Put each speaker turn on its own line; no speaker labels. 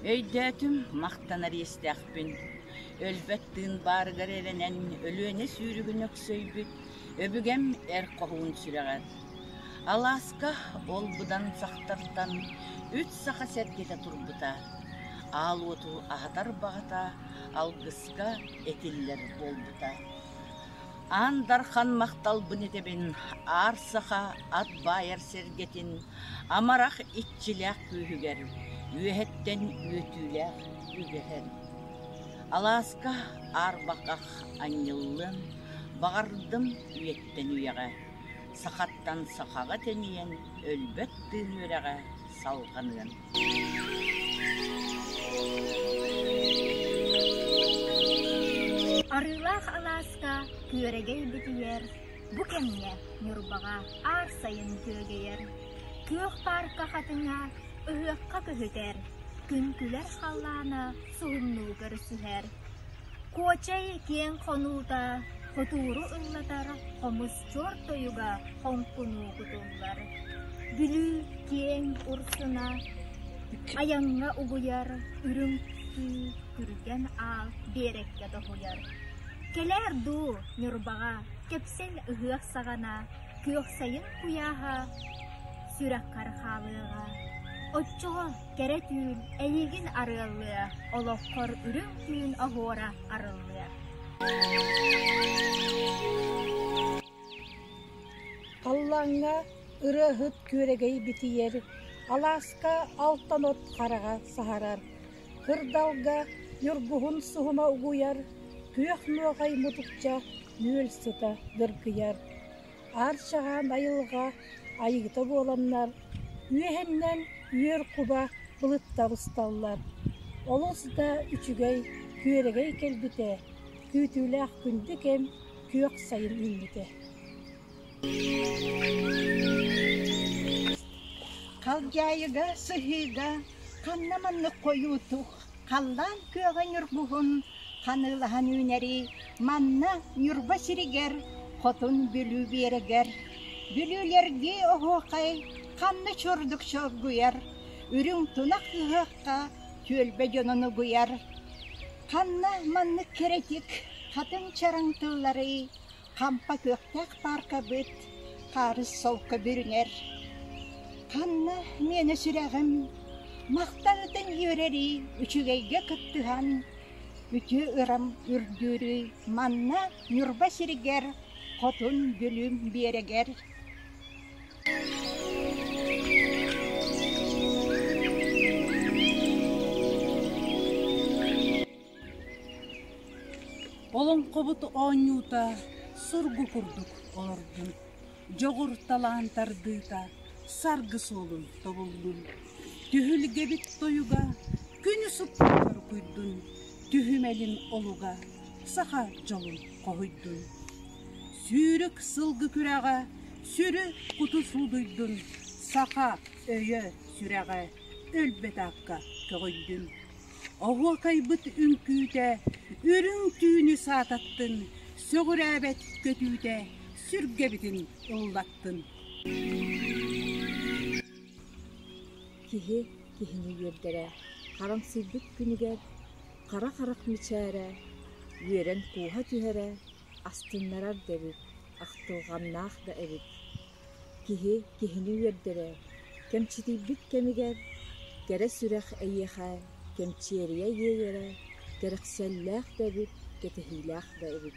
Өйдөөтүм, махтанар иэстээхпин. Өлбөт тыын баарыгар эрэнэн, Өлүөнэ сүүрүгүн өксөйбүт, Өбүгэм эр хоһуун сүрэҕэр. Алааска ол быдан сахтартан Үс саха сэргэтэ турбута. Аал уоту аһатар баҕата Алгыска этиллэр буолбута. Аан Дархан махталбын этэбин Аар Саха ат баайар сэргэтин амарах иччилээх күүһүгэр үөһэттэн үөтүүлээх үгэһин, алааска аарбахах анньыллыан баҕардым үйэттэн үйэҕэ, сахаттан сахаҕа тэнийэн өлбөт тыын үрэҕэ салҕаныан. Арыылаах алааска күөрэгэй битийэр, бу кэмҥэ Ньурбаҕа аар сайын күөгэйэр. Күөх паарка хатыҥа ыһыахха көһүтэр, күн күлэр халлаана суһумнуу көрсүһэр. Куочай киэҥ хонуута хотууру ыллатар хомус чуор тойуга хоҥкунуу кутуллар. Бүлүү киэҥ урсуна айаҥҥа угуйар үрүҥ күргэн аал биэрэккэ тоһуйар. Кэлээр дуу Ньурбаҕа кэпсэл ыһыах саҕана күөх сайын куйааһа сүрэххэр хаалыаҕа. Оччоҕо кэрэ түүн эйиигин арыаллыа, олоххор үрүҥ түүн оһуора арыллыа. Халлааҥҥа ырыаһыт күөрэгэй битийэр, алааска алтан от хараҕа саһарар, кырдалга ньургуһун суһума угуйар, күөх нуоҕай мутукча нүөл сыта дыргыйар. Аар-саҕа байылҕа айыыта буоланнар, үөһэннэн үөр куба былытта усталлар. Олус да үчүгэй, күөрэгэй кэлбитэ, күүтүүлээх күндү кэм күөх сайын үүммүтэ. Халдьаайыга сыһыыга ханна маннык хойуутук Халлаан күөҕэ ньургуһун ханыылаһан үүнэрий манна Ньурба сиригэр Хотун Бүлүү биэрэгэр Бүлүүлэргии оһуохай ханна чурдук чоргуйар Үрүҥ тунах ыһыахха түөлбэ дьонун угуйар Ханна маннык кэрэтик хатыҥ чараҥ тылларый Хампа күөхтээх пааркабыт Хаарыс солко бүрүнэр. Ханна миэнэ сүрэҕим Махтаҕытын үөрэрий Үчүгэйгэ кыттыһан Үтүө ырам үрдүүрүй Манна Ньурба сиригэр Хотун Дүлүм биэрэгэр Олоҥхобут оонньуута сургу курдук олордун, дьоҕур талаан тардыыта саргы суолун тобуллун, түһүлгэбит тойуга күн суптугар куйдун, түһүмэлин олуга саха дьолун хоһуйдун. Сүүрүк сылгы күрэҕэ сүрү куту суудуйдун, саха өйө сүрэҕэ өлбөт аакка көҕүйдүн. Оһуокайбыт үҥкүүтэ, үрүҥ түүнү саататтын, сөҕүрээбэт көтүүтэ, сүргэбитин ыллаттын. Киһи киһини үөрдэрэ харамсыйбыт күнүгэр хара харах мичээрэ үөрэн кууһа түһэрэ астыннарар да эбит, ахтылҕаннаах да эбит. Киһи киһини үөрдэрэ, кэмчитийбит кэмигэр, кэрэ сүрэх эйиэхэ кэмчиэрийэ иэйэрэ, кэрэхсэллээх да эбит, кэтэһиилээх да эбит